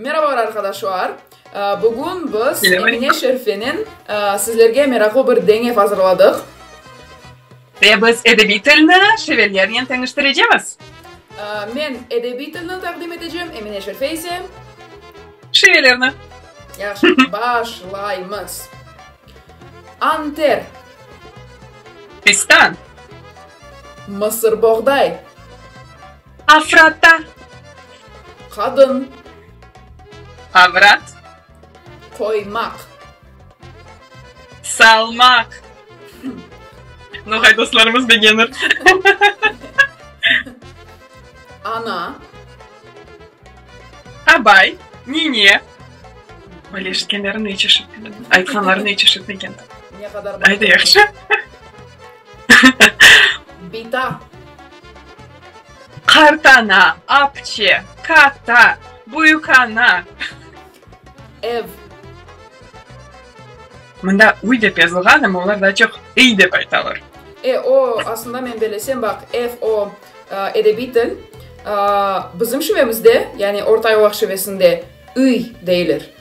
Merabalar arqadaşlar! Bugün biz Emine Şerifenen sizlerge meraqlı bir deñev azırladıq. Ve biz edebiy tilni şivelernen teñiştirecemiz. Men edebiy tilni taqdim etecem, Emine Şerife ise. Şivelerni. Yahşı, başlaymız. Anter. Fistan. Mısır boğday. Afrata. Qadın. Avrat. Qoymaq. Salmaq. Noğay dostlarımız begenir. Ana. Abay. Nine. Böyle eşitkenlerini hiç eşitmedim. Aytqanlarını hiç eşitmegen. Ne kadar Ay da yaxşı. Bita. Qartana, apçe, kata, büyükana, ev. Mında uy dep yazılğan, amma olar daa çoq iy dep aytalar. E, o, aslında men belesem, baq, ev, o, edebiy til, bizim şivemizde, yani ortayolaq şivesinde, iy, deyler.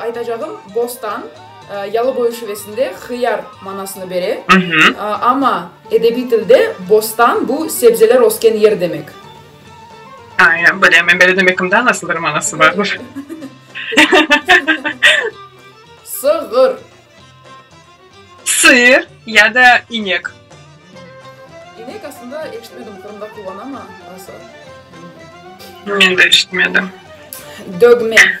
Aytacağım, bostan, Yalıboy şivesinde hıyar manasını bere, amma edebiy tilde bostan, bu sebzeler ösken yer demek. Aya, bile, men böyle demekimda nasıl bir manası bardır? Sığır. Sığır ya da inek. İnek aslında eşitmedim, Qırımda kullanama, nasıl? Men de eşitmedim. Dögme.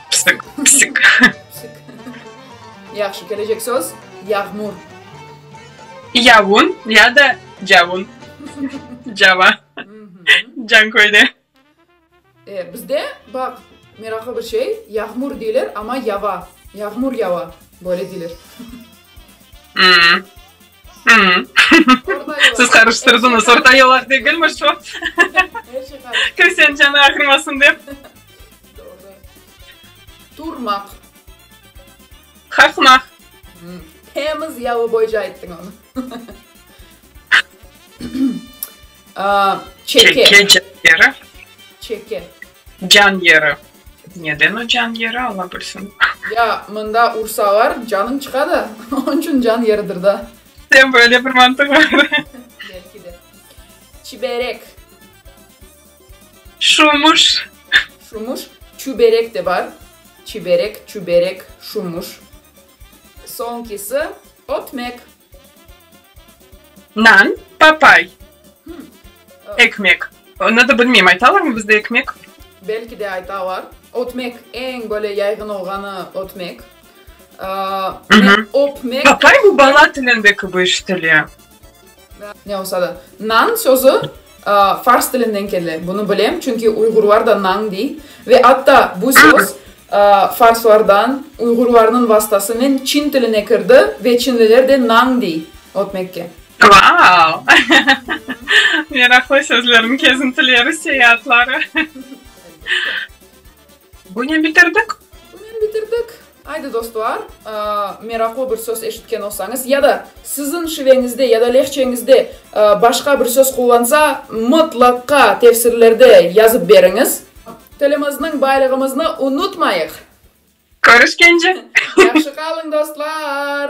Psik, psik. Psik. Yahşı, kelecek söz, yağmur. Yavun ya da cavun. Cava. Canköyde. E, bizde, baq, meraqlı bir şey, yağmur deyler, amma yava. Yağmur yava, böyle deyler. Hmm. Siz qarıştırdınız, orta yolaq degilmi şu? Kimsenin canı ağırmasın dep. Turmaq. Qaqmaq. Temiz yalı boyca ayttıñ onu. Çeke. Çeke, can yeri. Çeke. Can yeri. Neden o can yeri, Alla bilsin. Ya, mında ursalar, canıñ çıqa da, onıñ içün can yeridir da. Sen böyle bir mantıq bar. Belki de. Çiberek. Şumuş. Şumuş. Çüberek de bar. Çiberek, çüberek, şumuş. Soñkisi, ötmek. Nan, papay, ekmek. Onı da bilmeyim, aytalarmı bizde ekmek? Belki de aytalar. Ötmek, eñ böyle yaygın olğanı ötmek. Öpmek. Papay bu bala tilindeki bir iş tili. Ne olsa da. Nan sözü. Fars tilinden kele, bunı bilem, çünki uyğurlar da nañ dey. Ve atta bu söz farslardan, uyğurlarnıñ vastasınen çin tiline kirdi ve çinliler de nañ dey ötmekke. Vau! Meraqlı sözlerniñ kezintileri, seyaatları. Bunen bitirdik. Bunen bitirdik. Aydı dostlar, meraqlı bir söz eşitken olsañız ya da siziñ şiveñizde ya da lehçeñizde başqa bir söz qullansa, mıtlaqa tefsirlerde yazıp beriñiz. Tilimizniñ baylığımıznı unutmayıq! Körüşkence! Yahşı qalıñ, dostlar!